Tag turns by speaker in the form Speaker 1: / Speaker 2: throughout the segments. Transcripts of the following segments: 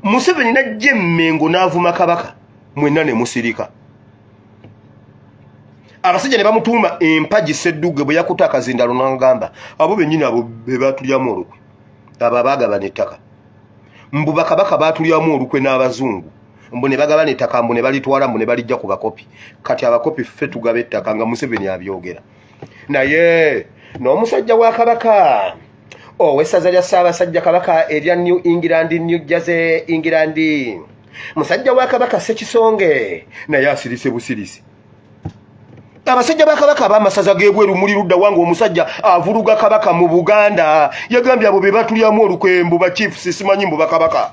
Speaker 1: museveni najja emmengo n'avuma kabaka mwenna ne musirika abasajja ne bamutuuma empagi seddugge bwe yakuta akazindalo n'agamba abo bennyini abo be baatulyamu olukwe abo abaagabana ettaka mbu bakabaka baatulyamu olukwe n'abazungu mbu ne bagabana ettaka mbu ne balitwala mbu ne balijja ku bakopi kati abakopi ffe tugaba ettaka nga museveni abyogera naye n'omusajja wa kabaka owessaza lya ssaabasajja kabaka erya new england new jersey england musajja wa kabaka sekisonge naye asirise busirisi abasajja ba kabaka abamasaza gebweru muli ludda wange omusajja avuluga kabaka mu buganda yagambye abo be batulyamu olukwembu ba chiefs simanyi mbu bakabaka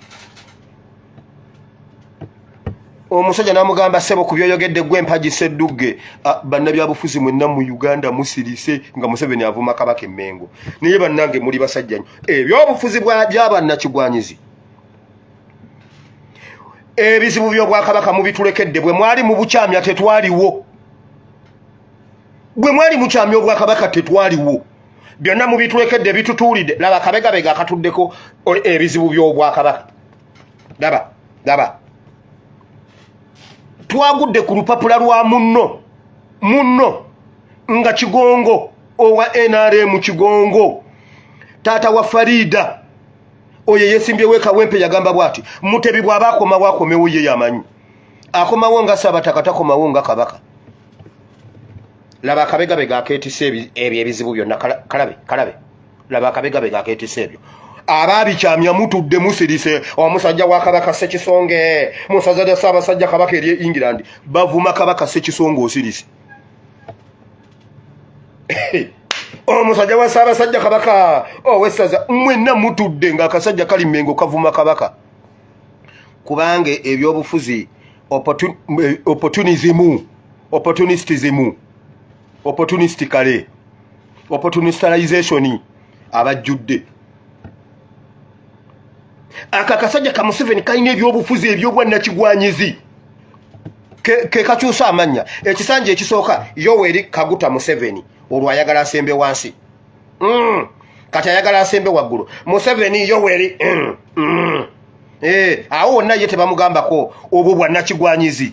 Speaker 1: omusajja namugamba sebo ku byoyogedde gwe mpaji seddugge bannabyabufuzi mwenna mu uganda musirise nga museveni avuma kabaka emengo naye bannange muli basajjanyo ebyobufuzi byabannakigwanyizi ebizibu byobwakabaka mubitulekedde bwe mwali mu bukyamya tetwaliwo bwe mwali mukyamya obwakabaka tetwaliwo byonna mubitulekedde bitutuulidde laba kabegabega akatuddeko ebizibu byobwakabaka laba laba twagudde ku lupapula lwa munno munno nga kigongo owa nrm kigongo taata wa farida oyo eyesimbyewo ekawempe yagamba bwati mutebi bwaba akomawo akomewo ye yamanyi akomawo nga sabataka takomawo nga kabaka laba akabegabega aketisa ebyo ebizibu byonna kalabe kalabe laba akabegabega aketisa ebyo abaabikyamya mutudde musirise omusajja wa kabaka sekisonge musaza lya ssaabasajja kabaka eri england bavuma kabaka sekisonge osirise omusajja wa ssaabasajja kabaka owessaza mwenna mutudde ngaakasajja kali mengo kavuma kabaka kubanga ebyobufuzi opportunism opportunistism opportunistically opportunisticalization abajjudde ako akasajja ka museveni kalina ebyobufuzi ebyobwannakigwanyizi kekakyusa amannya ekisanja ekisooka yoweri kaguta museveni olwo ayagala asembe wansi mm. kati ayagala asembe waggulu museveni yoweri mm. mm. Eh, awo wonna ye tebamugambako obwo bwannakigwanyizi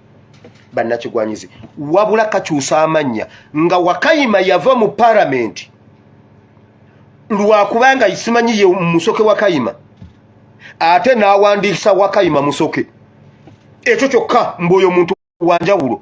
Speaker 1: bannakigwanyizi wabula kakyusa amannya nga wakayima yava mu paramenti lwakubanga simanyi ye musoke wakayima ate n'awandiisa wakayima musoke ekyo kyokka mbu oyo muntu wanjawulo